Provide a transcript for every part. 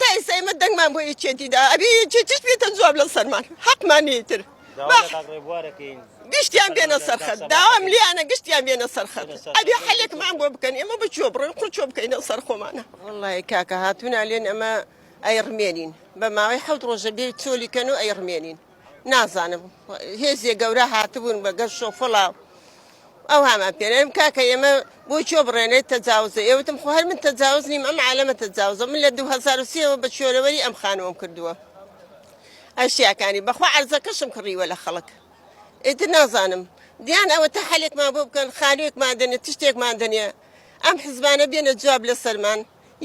تا ئێستا ئێمە دەنگمان بۆ یەکێتی دا ئەبێ یەکێتیش بێتە جواب لە سەرمان حەقمان نیە ئیتر داوا لە کاک ڕێبوار دەکەین گشتیان بێنە سەرخەت سەرخەت سەبارەت داوام بێت. لیانە گشتیان بێنە سەرخەت بێنە سەرخەت. ئەبێ حەلێکمان بۆ بکەن ئێمە بە کوێ بڕۆین قڕ چۆ بکەینەوە سەر خۆمانە وەڵڵاهی کاکە هاتوونا لێن ئەمە ئەیڕمێنین بە ماوەی حەوت ڕۆژە بێ چۆلیکەن و ئەیڕمێنین نازانم هێزێ گەورە هاتبوون بە گەر شۆفڵە ئەو هامان پێێم کاکە ئێمە بۆ چۆ بڕێنێت تەجاوزە ئێوتم خۆ هەر من تەجاوز نیم ئەم عالەمە تەجاوزە من لە 2023ەوە بە چۆرەوەری ئەم خانووەم کردووە ئەشیاکانی بەخوا عرزەکەشم کڕیوە لە خەڵک ئیتر نازانم دیان ئەوە تا حلێکمان بۆ بکەن خانوێکمان دەنێ تشتێکمان دەنێ ئەم حزبانە بێنە جواب لە سەرمان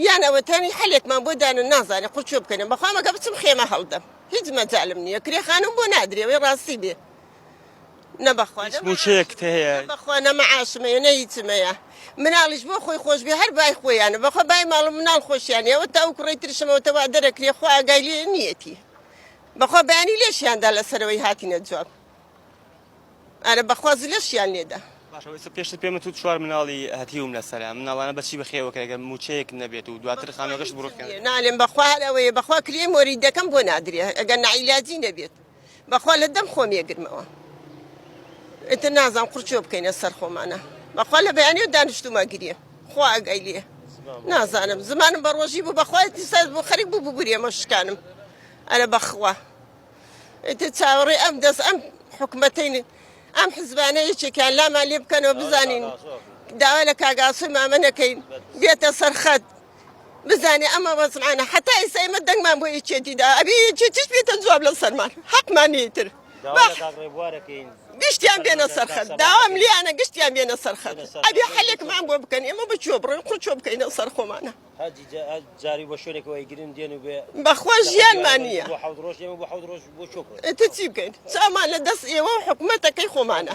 یان ئەوە تامی حەلێکمان بۆ دانن نازانێ قوڕ کوێ بکەنێ بەخوام ئەگە بچم خێمە هەڵدەم هیچ مەجالم نییە کرێ خانم بۆ نادرێ وەی ڕاستی بێ نە بەخوا هیچ نە مووچەیەکت معاشم هەیە نە بەخوا نە معاشم هەیە نە هیچم هەیە مناڵیش بۆ خۆی خۆش بێ هەر بای خۆیانە بەخوا بای ماڵ و مناڵ خۆشیان یەوە تا ئەو کوڕەی ترشمەوە تە وا دەرەکرێ خوا ئاگای لێ نییەتی بەخوا بەیانی لێشیاندا لەسەرەوەی هاتینە جواب ئەرە بەخوا زلەشیان لێدە. باشە وەی پێشتر پێمت وت چوار مناڵی هەتیوم لەسەرە مناڵانە بەچی بەخێو ئەکرێ گەر موچەیەکت نەبێت و دواتر خانوەکەشت بڕوخێنێ. بەخوا نالێم بەخوا هەر ئەوەیە بەخوا کرێی مۆریدەکەم بۆ نادرێ ئەگەر نەعیلاجی نەبێت بەخوا لە دەم خۆم یەگرمەوە ئیتر نازانم قورچۆ بکەینە سەر خۆمانە بەخوا لە بەیانیو دانیشتومە گرێ خوا ئەگای لێ نازانم زمانم بە ڕۆژی بوو بەخوای دیساز بۆ خەریک بوو ببورێمە شکانم ئەرە بەخوا ئیتر چاوەڕێ ئەم دەست ئەم حکومەتین ئەم حزبانە یەکێکیان لامان لێ بکەنەوە بزانین داوا لە کاگاسوی مامە نەکەین بێتە سەرخەت بزانێ ئەمە وەزمانە حتا ئیستا ئمە دەنگمان بۆ یەکێتیدا ئەبێ یەکێتیش بێتە جواب لە سەرمان حەقمانی تر گشتیان بێنە سەرخەت داوام لیانە گشتیان بێنە سەرخەت ئەبێ حلێکمان بۆ بکەن ئێمە بچوە بڕێن قوچۆ بکەینە سەر خۆمانە بەخوا ژیانمان نیە ئیتر چی بکەین چامان لە دەست ئێوەو حکومەتەکەی خۆمانە.